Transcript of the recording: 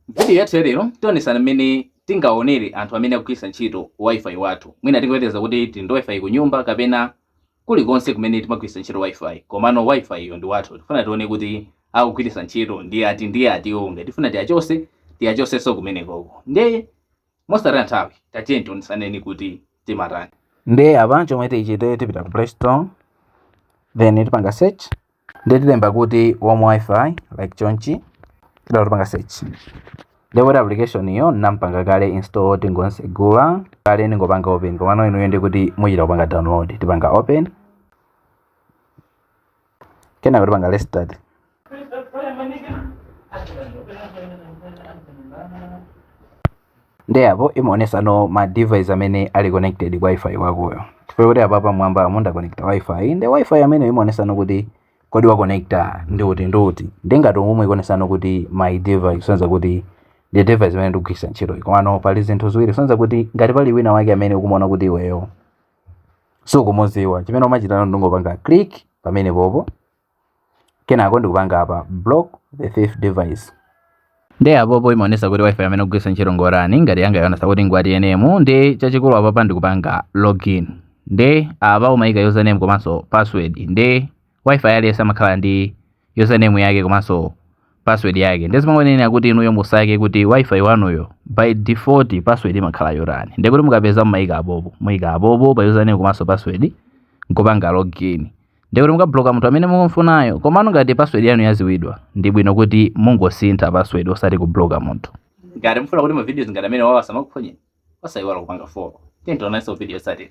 M'vidiyo yathu yalero, tionetsana mmene tingaonere anthu amene akugwiritsa ntchito Wi-Fi wathu. Mwina tingoyerekeza kuti tili ndi Wi-Fi kunyumba kapena kulikonse kumene timagwiritsa ntchito Wi-Fi. Komano Wi-Fiyo ndi wathu. Tifuna tione kuti akugwiritsa ntchito ndi ati ndi ati. Ngati tifuna tiachotse, tiachotsenso kumenekoko. Ndiye mosataya nthawi tatiyeni tionetsane kuti timatani nde apa chomwe tichite tipita ku play store then tipanga search nde tilemba kuti home wifi like chonchi titatero tipanga search nde application iyo ndinapanga kale install tingotsegula kale ndingopanga open komano inuyo ndi kuti muchita kupanga download tipanga open kenako tipanga let's start nde apo imaonetsano ma device amene ali connected ku wifi wakoyo chifukwa kuti apa pamwamba amene wa connecta wifi ndi wifi amene imaonetsano kuti kodi wa connecta ndi uti ndi uti nde ngati umu ikuonetsano kuti my device kusonyeza kuti ndi device imene ndikugwiritsa ntchito komano pali zinthu ziwiri kusonyeza kuti ngati pali wina wake amene ukumuona kuti iweyo sukumudziwa chimene umachita nano ndi kungopanga click pamene popo kenako ndikupanga apa block the thief device nde apopo imaonetsa kuti wifi amene ukugwiritsa ntchito ngotani ngati yanga yaonetsa kuti ngwa TNM nde chachikulu apapa ndikupanga login nde apa umayika username komanso password nde wifi aliyense amakhala ndi username yake komanso password yake ndiye zimangotengera kuti inuyo musake kuti wifi wanuwo by default password imakhala yotani ndiye kuti mukapeza mumayika apopo muyika apopo pa username komanso password nkupanga login ndiye kuti mukabloka munthu amene mukumfunayo komano ngati password yanu yadziwidwa ndi bwino kuti mungosintha password osati kubloka munthu ngati mufuna kuti ma videos ngati amenewawa asamakuphonyeni osayiwala kupanga follow tionananso video yotsatira